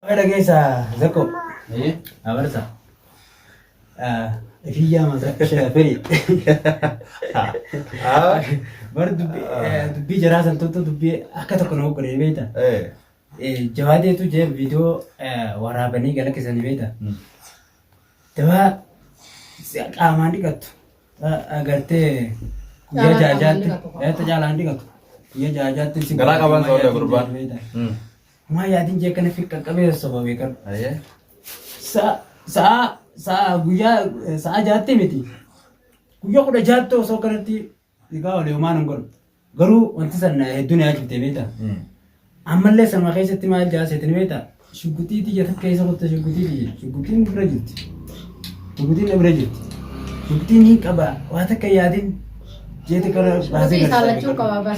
Baga dhageessa zakko. Ee, abarsa. Ifiyyaa masa shafiri. Bar dubbii jaraa san tuttu dubbii akka tokko nama godhee beekta. Jawaadeetu jee viidiyoo waraabanii gala keessanii beekta. Dawaa qaamaan dhiqattu. Agartee guyyaa Qaamaan jaajaatti. qaamaan dhiqatu. Eetta caalaan dhiqatu. Guyyaa jaajaatti si Garaa qaban soodha gurbaan. Maa yaadin jee kana fiqqa qabee sassoba beekan. Ayee. Sa'a sa'a sa'a guyyaa eh, sa'a jaatte miti. Guyyaa kudha jaatte osoo kanatti dhigaa wal yoomaan hin godhu. Garuu wanti sana hedduu na yaachifte beekta. Ammallee sanuma keessatti maal jaaseeti ni beekta. Shugguxii tiyya takka keessa gotta shugguxii tiyya. Shugguxiin bira jirti. Shugguxiin na bira jirti. Shugguxiin hin qaba. Waa takka yaadin jeeti kana baasee Shugguxii isaa lachuu qaba bara.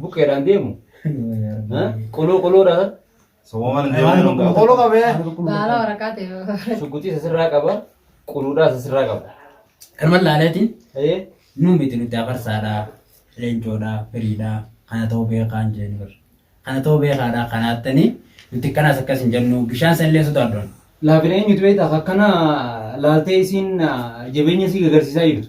Buqqeedhaan deemu. Quloo quloodhaan. Soboman Waan deemuun qulqulluu gaafata. Qolo qabee. Waan qulqulluu Baala ta'e. waraqaa ta'e. Shugguxii sasirraa qaba. Quluudhaa sasirraa qaba. Kanuma laaleetiin Ee nuun miti nuti afarsaadha, leencoodha, firiidha, kana ta'uu beekaan jennu barra. Kana ta'uu beekaadha, kana attanii nuti kanas akkas hin jennu bishaan san illee sodaaddoon. laafina eenyutu beektaa akkanaa laaltee isiin ah, jabeenya isii gagarsiisaa jirtu.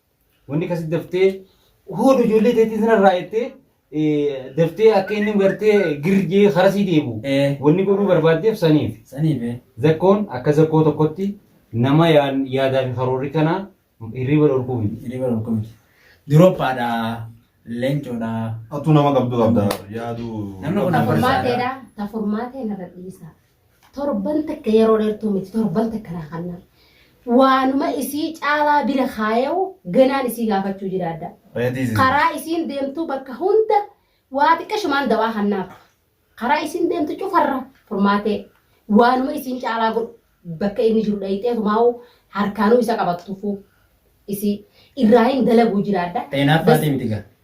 Wanni kasi daftee hoodu ijoollee teetii sanarraa jettee eh, daftee akka inni gartee girjee harasii deebi'u. Eh. Wanni godhuu barbaaddeef saniif. Sanii bee. Zakkoon akka zakkoo tokkotti nama yaa- yaadaa fi karoorri kanaa hirriba dhorkuu miti. Hirriba dhorkuu miti. Durophaadha. Leencoodha. Atu nama qabdu qabda yaadu. Namni kun Furmaatee dha. Ta furmaatee narra dhiisa. Torban takka yeroo dheertuu miti torban takka naa kannaa. Waanuma isii caalaa bira kaayawu ganaan isii gaafachuu jiraadha. Reediis. Karaa isiin deemtuu bakka hunda waa xiqqashumaan dawaa kannaaf. Karaa isiin deemtu cufarra furmaatee waanuma isiin caalaa godhu bakka inni jiru dhayixeetu maa'u harkaanuu isa qabattufuu isii irraa hin dalaguu jiraadha. Xeenaa Bas- faatii miti gaa.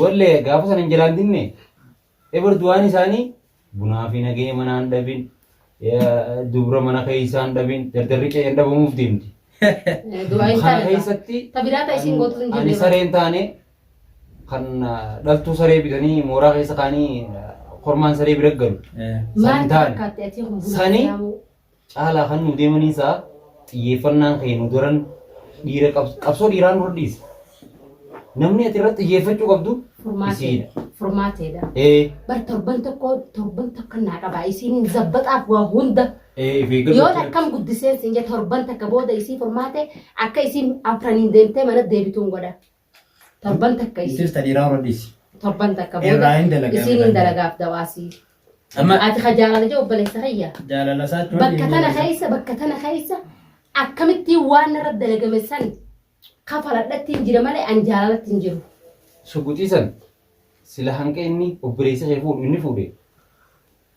Wallee gaafa sana hin jalaan dinne ebar du'aan isaanii bunaa fi nagee manaa hin dhabin dubra mana keessaa hin dhabin dardarri qe'ee hin dhabamuuf deemti. Du'aa hin Kana taane keessatti ta biraa ta isiin gootu hin ani jirre. saree hin taane kan dhaltuu saree bitanii mooraa keessa kaanii kormaan saree bira galu. Maal San taane. fakkaatti atii kun buna Sani- islaamuu? Caalaa kan nuu deemanii isaa xiyyeeffannaan kee nu daran dhiira qabs- qabsoo dhiiraan dura dhiise. Namni ati irratti xiyyeeffachuu qabdu isiidha. Furmaateedha. Furmaateedha. Ee, Bar torban tokko torban takka naa qabaa isiin zabbaxaaf waa hunda. ee, of eeggannoo Yoon godhachuu. akkam guddiseen siin jee torban takka booda isii furmaate akka isiin afraniin deemtee mana deebituun godha. Torban takka isiin. Itis tadiraa warra dhiisi. Torban takka booda. Irraa hin dalagaa. Isiin hin dalagaaf dawaasii. Amma Ati ka jaalala jee obboleessa kiyya. jaalala isaa jechuun Bakka tana keessa bakka tana keessa akkamittiin waan irra dalagame san kafaladhatti hin jira malee an jaalalatti hin jiru. suguxiisan sila hanqa inni obboleessa kee fuudhu inni fuudhe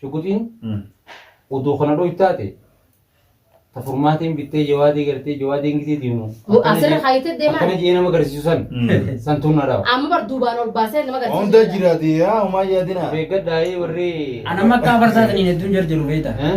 Shuguxiin utuu kana dhoytu taate ta furmaatiin bittee jawaadii gartee jawaadiin gisee deemu. Mu- asirra kaayitee deemaa? Akkana jee nama garsiisu san san tun na dhawa. Amma bar duubaan ol baasee nama garsiisu. Hunda jiraate yaa umaa yaadina. Beegadhaa ee warri. Anamma akka afarsaataniin hedduun jarjaru beektaa. Eh?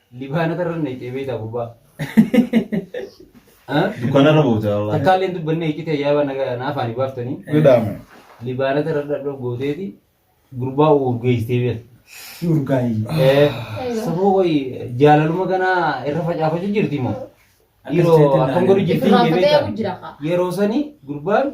Libaana tarran nayxee beektaa gurbaa. Dukkanarra buute wallaahi. Takkaallee hin dubbanne iccitee yaaba na afaanii baaftanii. Godhaame. Libaana tarra dhadhoo gooteeti gurbaa urgeessitee beekta. Urgaayi. Saboo qoyi jaalaluma kanaa irra facaafachuu jirti moo? Yeroo akkam godhu jirti hin Irraanfatee beektaa? jira kaa. Yeroo sani gurbaan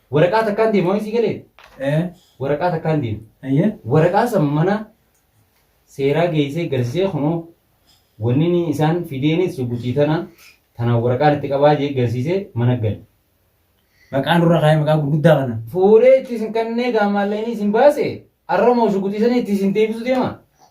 Waraqaa takkaan deema waan sii galee? Ee. Waraqaa takkaan deema. Ayyee. Waraqaa san mana seeraa geessee garsisee kunoo wanni inni isaan fideenis sugutii tana tana waraqaan itti qabaa jee garsiisee mana gale. Maqaa nurra kaa'ee maqaa gurguddaa kana. Fuudhee itti isin kannee gaamaallee inni isin baase arramoo sugutii sanii itti isin deebisu deema.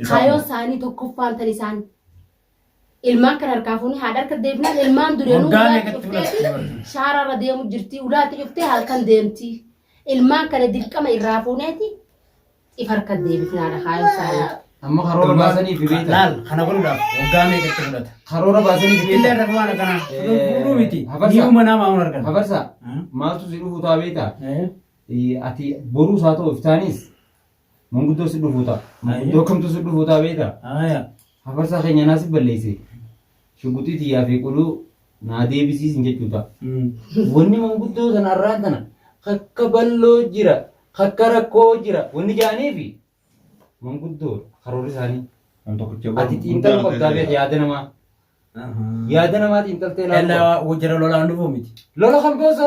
Isaan Kaayoo moo? isaanii tokkoffaan tan isaan ilmaan kan harkaa fuunee haadha harka deebinaan ilmaan dureenuu Waggaa ulaatti meeqatti cuftee fi fudhatte? shaaraarra deemu jirti ulaatti cuftee halkan deemti ilmaan kana dirqama irraa fuuneeti if harka deebifnaadha kaayoo isaanii. Amma karoora baasanii fi beektan. Laal kana godhuudhaaf waggaa meeqatti fudhata? Karoora baasanii fi Illee beektan. rakkoon akkanaa Eh, fuudhuu miti. hafarsa. Ni uuma namaa hin argan. Hafarsa maaltu si dhufu taa beektaa? Eh, Ati boruu isaa ta'u iftaanis Manguddoo si dhufuu ta'a. Manguddoo kamtu si dhufuu ta'a beektaa? Aayaa. Hafarsaa keenya naa si balleesse. Shuguxii tiyyaa fi quluu naa deebisiisin jechuu ta'a. Wanni manguddoo sana arraan tana kakka balloo jira, kakka rakkoo jira wanni ja'aniifi manguddoo karoorri isaanii. Waan tokkicha Ati waan xiinxaluu guddaa qabdaa beekta yaada namaa. Yaada namaa xiinxaltee ilaaluu qabda. Ella jara lolaan dhufuu miti. Lola kan boosa.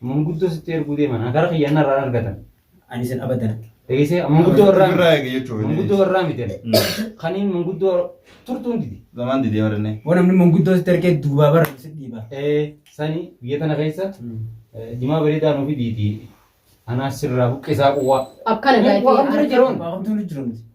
Manguddoo sitti erguu deeman akara kiyya anna irraa argatan. Ani isin abadan. Eegisee manguddoo irraa Irraa miti. eegi jechuudha. Manguddoo irraa miti. Kaniin manguddoo turtuun didi. Zamaan didee warreen. Waan namni manguddoo sitti ergee duubaa bara si dhiiba. Eh, Sani biyya tana keessa eh, jimaa bareedaa nuuf fidiiti. Anaa sirraa buqqisaa quwwaa. Akkana Waan gaafii. bira jiruun. Waaqamtuu ni jiru miti.